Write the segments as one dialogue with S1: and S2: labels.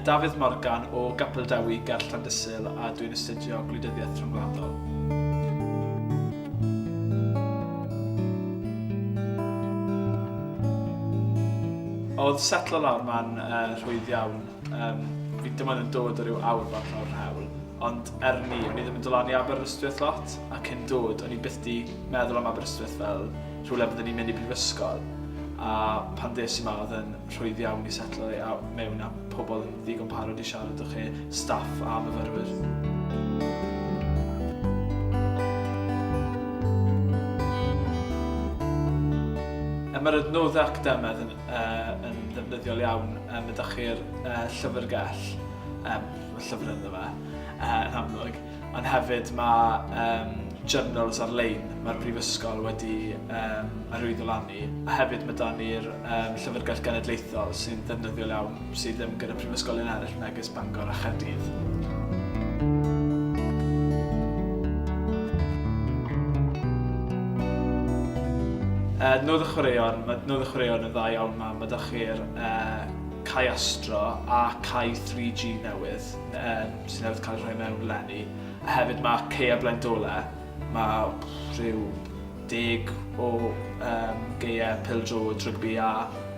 S1: Dafydd Morgan o Gapel Dewi ger Llandysul a dwi'n astudio gwleidyddiaeth rhyngwladol. Oedd setlo lawr ma'n uh, rhwydd iawn. Um, fi dim ond yn dod o ryw awr bach o'r rhewl, ond er ni, o'n i ddim yn dod lan i Aberystwyth lot, ac yn dod, o'n i byth di meddwl am Aberystwyth fel rhywle byddwn ni'n mynd i brifysgol. A pan ddes i ma, oedd yn rhwydd iawn i setlo i mewn a pobl yn ddigon parod i siarad o chi, staff a myfyrwyr. Mae'r adnoddau academaidd yn uh, yn ddefnyddiol iawn. Um, ydych chi'r uh, llyfrgell, um, llyfr ynddo fe, uh, yn amlwg. Ond hefyd mae um, journals ar-lein mae'r Brifysgol wedi um, arwyddo lan ni. A hefyd mae dan ni'r um, llyfrgell genedlaethol sy'n ddefnyddiol iawn sydd ddim gyda prifysgolion eraill megis Bangor a Chaerdydd. Adnodd y chwaraeon, mae adnodd y chwaraeon yn dda iawn 'ma, mae 'da chi'r cae astro a cae 3G newydd sydd newydd cael eu rhoi mewn eleni, a hefyd mae caeau Blaendole, mae rhyw deg o gaeau pêl-droed rygbi iâ.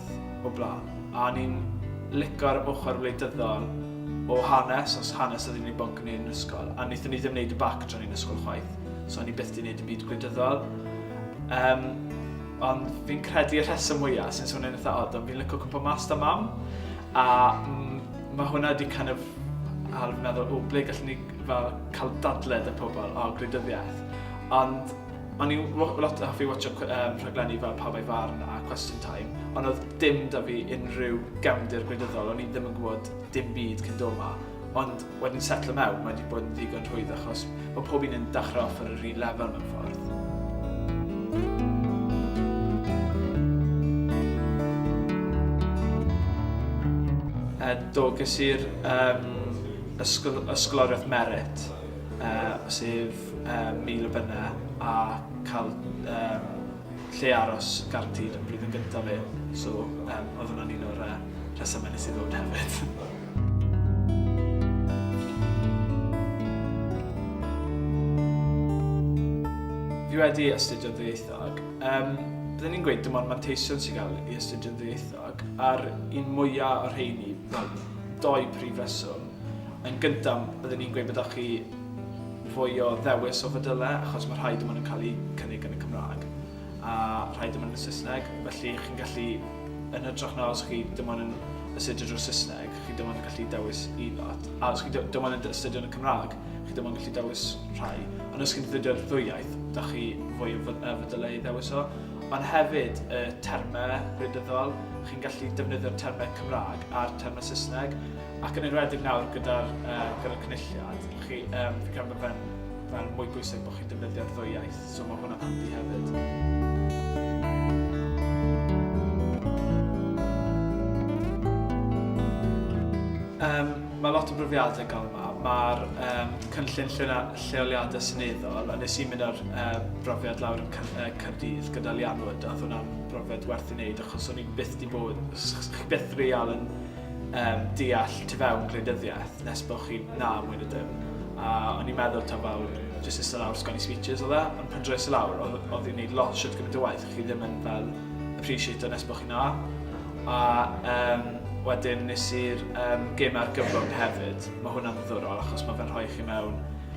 S1: gwaith o blaen a o'n i'n lico'r ochr wleidyddol o hanes, os hanes oedd un o'i bwnc ni yn yr ysgol, a wnaethon ni ddim wneud y bac tra o'n i'n ysgol chwaith, so o'n i byth di wneud y byd gwleidyddol. Um, ond fi'n credu y rheswm mwyaf sy'n swnio'n eitha odd, ond fi'n licio cwmpa mas da mam, a mm, mae hwnna wedi kind of ar meddwl, o, ble gallwn ni fel cael dadled y pobl o gwleidyddiaeth. Ond O'n i'n lot yn hoffi watsio rhaglenni fel Pawb a'i Farn a Question Time, ond oedd dim 'da fi unrhyw gefndir gwleidyddol, o'n i ddim yn gwybod dim byd cyn dod 'ma. Ond wedyn setlo mewn, mae 'di bod yn ddigon rhwydd achos mae pob un yn dachrau off ar yr un lefel mewn ffordd. Do, ges i'r Ysgol Ysgoloriaeth Merit. sef mil o bunnau a cael lle aros garantîd yn blwyddyn gyntaf fi, so oedd hwnna'n un o'r rhesymau nes i ddod hefyd. Fi wedi astudio ddwyieithog. Bydden i'n gweud dim ond manteision sy'n cael ei astudio yn ddwyieithog a'r un mwyaf o'r rheini, wel, dou prif reswm. Yn gyntaf, byddwn i'n gweud bod 'da chi fwy o ddewis o fodyllau achos mae rhai dim ond yn cael eu cynnig yn y Cymraeg a rhai dim ond yn y Saesneg, felly chi'n gallu, yn hytrach na os chi dim ond yn astudio drwy'r Saesneg, chi dim ond yn gallu dewis un lot, a os chi dim ond yn astudio yn y Cymraeg, chi dim ond yn gallu dewis rhai, ond os chi'n defnyddio'r ddwy iaith, da chi fwy o fodyllau i ddewis o. Ond hefyd, y termau gwleidyddol, chi'n gallu defnyddio'r termau Cymraeg a'r termau Saesneg, Ac yn enwedig nawr gyda'r uh, gyda cynulliad, chi, um, fi credu bod fe'n fe mwy bwysig bod chi'n defnyddio'r ddwy iaith, so mae hwnna'n handi hefyd. Um, mae lot o brofiadau gael yma. Mae'r um, cynllun lleoliadau syneddol, a nes i mynd ar uh, brofiad lawr yn Cyrdydd gyda Lianwyd, a hwnna'n brofiad werth i wneud, achos o'n i'n byth di bod, chi byth real yn Yym, deall tu fewn gwleidyddiaeth nes bod chi'n na mwy na dim. A o'n i'n meddwl ta fel jyst ista lawr sgwennu speeches oedd e, ond pan dres i lawr oedd oedd hi'n neud lot shwt gymaint o waith chi ddim yn fel appreciate o nes bod chi'n na. A yym, wedyn nes i'r um, gêm argyfwng hefyd, mae hwnna'n ddiddorol achos mae fe'n rhoi chi mewn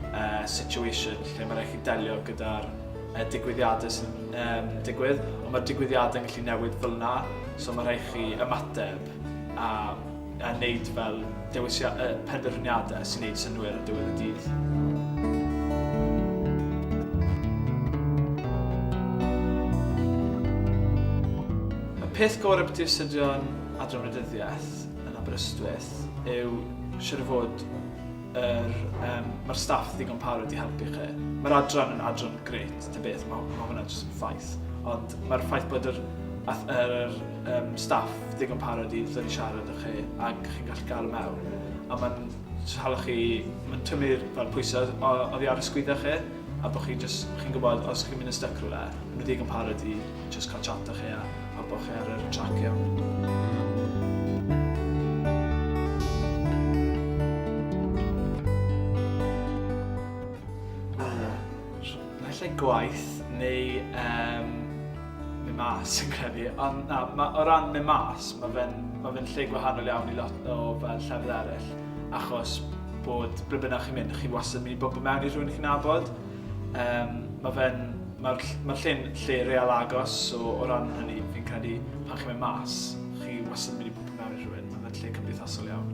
S1: uh, situation lle mae rhaid chi delio gyda'r uh, digwyddiadau sy'n um, digwydd, ond mae'r digwyddiadau'n gallu newid fel yna, so mae rhaid chi ymateb a a neud fel dewisio- yy penderfyniade sy'n neud synnwyr ar diwedd y dydd. Y peth gore byti astudio'n Adran Wleidyddiaeth yn Aberystwyth yw siŵr o fod yr yym ma'r staff ddigon parod i helpu chi. Ma'r adran yn adran grêt ta beth ma' ma' hwnna jyst yn ffaith ond ma'r ffaith bod yr ath- yr um, staff digon parod i ddod i siarad â chi ac chi'n gallu gael y mewn. A mae'n hala chi, mae'n tynnu'r fel pwysau oddi ar y sgwydda chi a bod chi just, chi'n gwybod os chi'n mynd yn stuck rhywle, nhw ddigon parod i just cael chat â chi a, a bod chi ar y trac iawn. Efallai gwaith neu yym mynd mas fi'n credu ond na ma' o ran mynd mas ma' fe'n ma' fe'n lle gwahanol iawn i lot o fel llefydd eryll achos bod ble bynnag chi'n mynd chi wastad yn myn' i bwmpo mewn i rhywun chi'n nabod yym ma' fe'n ma'r ll- ma'r lle'n lle real agos so o ran hynny fi'n credu pan chi'n mynd mas chi wastad yn myn' i bwmpo mewn i rhywun ma' fe'n lle cymdeithasol iawn.